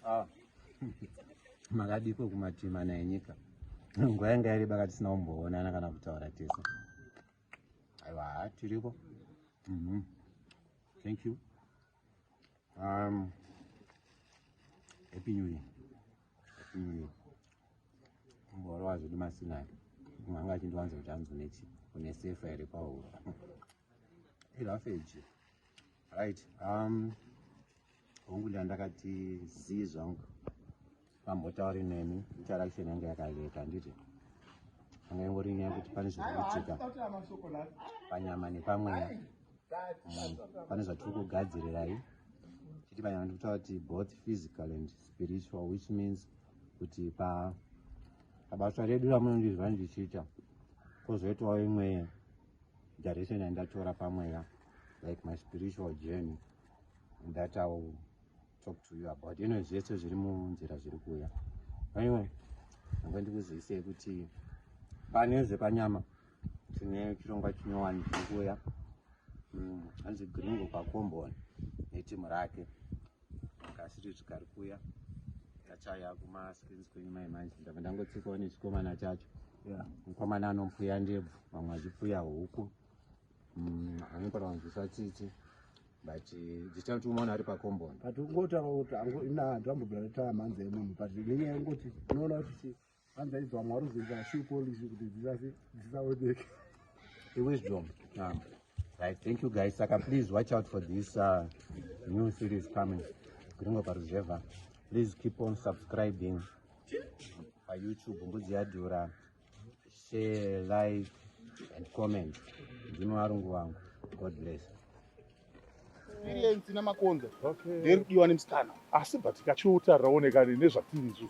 ah. makadiko kumatima naye nyika nguva yanga yareba ka tisina kumboonana kana kutaura tese aiwa ha tiriko mhm. thank you um, happy new year happy new year kumborowa zvedu masinai mumwe anga achindiwanza kuti anzi unechi une sefa here kwaura ilafeji right um, hongu ndandakati zii zvangu vambotauri neni interaction yange yakaleka handiti anga ingori nyaya kuti pane zviri kuitika panyama nepamweya mm, pane zvatiri kugadzirirai chiti panyama ndi kutaura kuti both physical and spiritual which means kuti pa pabasa redu ramunondizva ndichiita kozoitawo imwe direction yandatora pamweya like my spiritual journey and that I will talk to you about you know zvese zviri munzira zviri kuuya anyway ndanga ndikuzivisei kuti pane zvepanyama tine chirongwa chinyowani chiri kuuya mm, hanzi gringo pakomboni netimu rake kasiri zvikari kuuya tachaya kumascreens kwenyu mai manje ndava ndangotsikawo nechikomana chacho mukomana anompuya ndebvu vamwe vachipfuya huku Mm, anopara kunzwisa tsitsi but eh, this time tikumaona ari pacombond but ungotaura kuti angu- ina hanzi ambobvira taya mhanza yemunhu but nenyaya yekungoti unoona kuti chi- hanzi aidzwa mwari uzoita shu policy kuti dzisasi- dzisaoneke iwisdom um, right thank you guys saka please watch out for this uh, new series coming gringo paruzevha please keep on subscribing payoutube mbudzi yadhura share like and comment ndino arungu wangu god bless experience namakonzo nderidiwa nemusikana asi but kachiuta raoneka nezvatiri izvo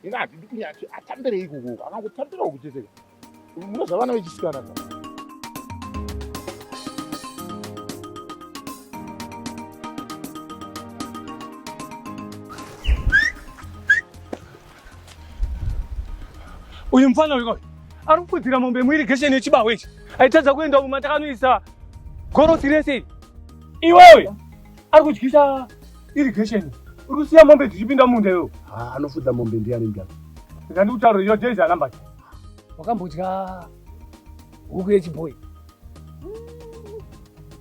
inga handidi kunyati atambire ikukoko akangotambirawo kucheteka mune zvavana vechisikana ka Uyu mfana uyu kawai ari kukudzira mombe muirigesheni yechibaho ichi aitadza kuenda umu matakanoisa gorosi rese iri iwewe ari kudyisa irigesheni uri kusiya mombe dzichipinda munda iwewe Ah, anofudza mombe ndiye anenge apa. ndandikutaura iyo jezi anamba wakambodya huku yechibhoyi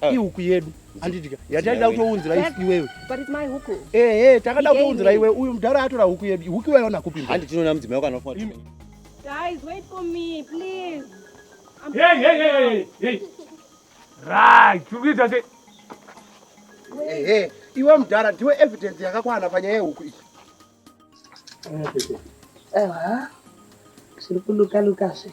Ah. ihuku yedu andidya yataida kutounzira iwewe ehe takada kutounzira iwe uyu mudhara atora huku yedu huku iwayo nakupi handi tinoona mudzimai wako anofa Guys, wait for me, please. I'm hey, hey, hey, hey, hey. Right, kuita se. Hey, hey. Iwe mudhara ndiwe evidence yakakwana panyaya yehuku iyi. Ewa. Siri kuluka luka se.